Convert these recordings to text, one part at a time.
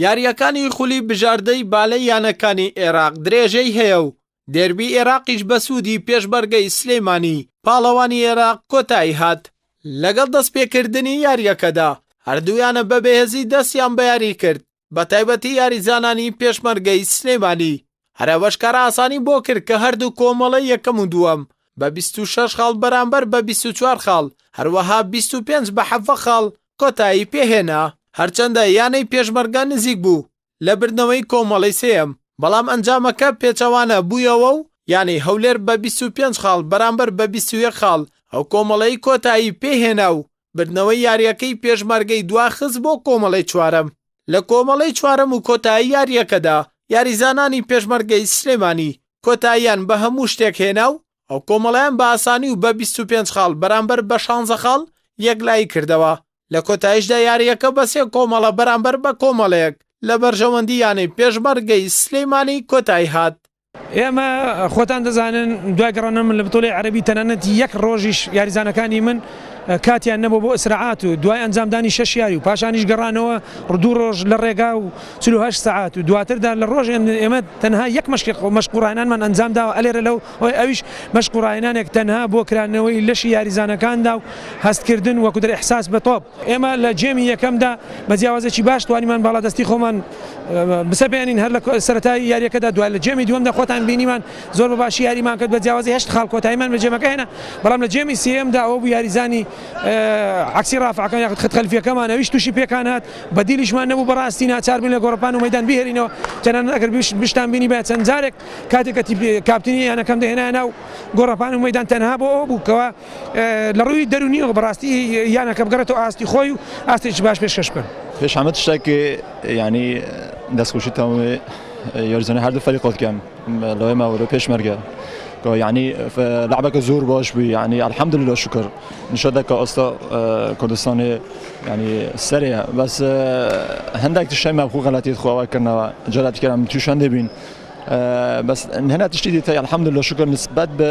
یارییەکانی خولی بژاردەی بالەی یانەکانی ئێراق درێژەی هەیە و دێربی ئێراقیش بە سوودی پێشبەرگەی سلەیمانی پاڵەوانی ئێراق کۆتایی هات لەگەڵ دەستپێکردنی یارییەکەدا هەردوویانە بە بەهێزی دەستیان بە یاری کرد بە تایبەتی یاریزانانی پێشمەرگەی سلێمانی هەر ئەوەش کار ئاسانی بۆ کرد کە هەردوو کۆمەڵە یەکەم و دووەم بە 26 خاڵ بەرامبەر بە 24 خاڵ هەروەها 25 بە حەڤە خاڵ کۆتایی پێهێنا هەرچەندە یانەی پێشمەرگە نزیک بوو لە بردنەوەی کۆمەڵەی سێیەم بەڵام ئەنجامەکە پێچەوانە بوویەوە و یانەی هەولێر بە 25 خاڵ بەرامبەر بە 21 خاڵ ئەو کۆمەڵەی کۆتایی پێهێنا و بردنەوەی یارییەکەی پێشمەرگەی دواخست بۆ کۆمەڵەی چوارەم لە کۆمەڵەی چوارەم و کۆتایی یارییەکەدا یاریزانانی پێشمەرگەی سلێمانی کۆتاییان بە هەموو شتێک هێنا و ئەو کۆمەڵیان بە ئاسانی و بە 25 خاڵ بەرامبەر بە 16 خاڵ یەکلایی کردەوە لە کۆتایشدا یارییەکە بە سێ کۆمەڵە بەرامبەر بە کۆمەڵەیەک لە بەرژەوەندی یانەی پێشمەرگەی سلێمانی کۆتایی هات ئێمە خۆتان دەزانن دوای گەڕانە من لە بتۆلەی عەرەبی تەنانەت یەک ڕۆژیش یاریزانەکانی من کاتیان نەبوو بۆ ئسراعات و دوای ئەنجامدانی شەش یاری و پاشانیش گەڕانەوە ڕدوو ڕۆژ لە ڕێگا و چلوهشت سەعات و دواتردا لە ڕۆژ ئێمە تەنها یەک مەشقی خۆ مەشق و ڕاهێنانمان ئەنجام داوە ئەلێرە لەو ئەوەی ئەویش مەشق و ڕاهێنانێک تەنها بۆ کرانەوەی لەشی یاریزانەکاندا و هەستکردن وەکو دەر ئحساس بە تۆپ ئێمە لە گێمی یەکەمدا بە جیاوازێکی باش توانیمان باڵادەستی خۆمان بسەپێنین هەر لە سەرەتای یاریەکەدا دوای لە گێمی دووەمدا خۆتان بینیمان زۆر بە باشی یاریمان کرد بە جیاوازی هەشت خاڵ کۆتاییمان بە گێمەکە هێنا بەڵام لە گێمی سێیەمدا ئەوە بوو یاریزانی عەکسی ڕافعەکان یاخود خەت خەلفییەکەمان ئەویش تووشی پێکان هات بەدیلیشمان نەبوو بەڕاستی ناچار بووین لە گۆڕەپان و مەیدان بیهێلینەوە تەنانەت ئەگەر بشتان بینی بە چەند جارێک کاتێک کاپتنی یانەکەم دەهێنایە ناو گۆڕەپان و مەیدان تەنها بۆ ئەوە بوو کەوا لە ڕووی دەروونییەوە بەڕاستی یانەکە بگەڕێتەوە ئاستی خۆی و ئاستێکی باش پێشکەش بکەن. پێش هەموو شتێک یانی دەستخۆشی تەواوی یاریزانە هەردوو فەریق بکەم لەوەی ماوەرە پێشمەرگە یعنی لعبەکە زۆر باش بوو یعنی الحمد لله شکر نیشە دەکە ئەستا کوردستانی ینی سەرێ بەس هەندێک شەی مەبخو غەلەتیت خواوە کردنەوە جاراتکەم تووشان دەبین بەس هەنا تشتی دیتە الحمد لله شکر نسبت بە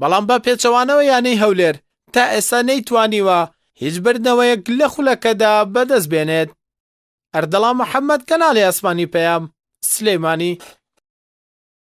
بەڵام بە پێچەوانەوە یانەی هەولێر تا ئێستا نەیتوانیوە هیچ بردنەوەیەک لە خولەکەدا بەدەست بێنێت. ئەردەڵان محەمەد کەناڵی ئاسمانی پەیام، سلێمانی.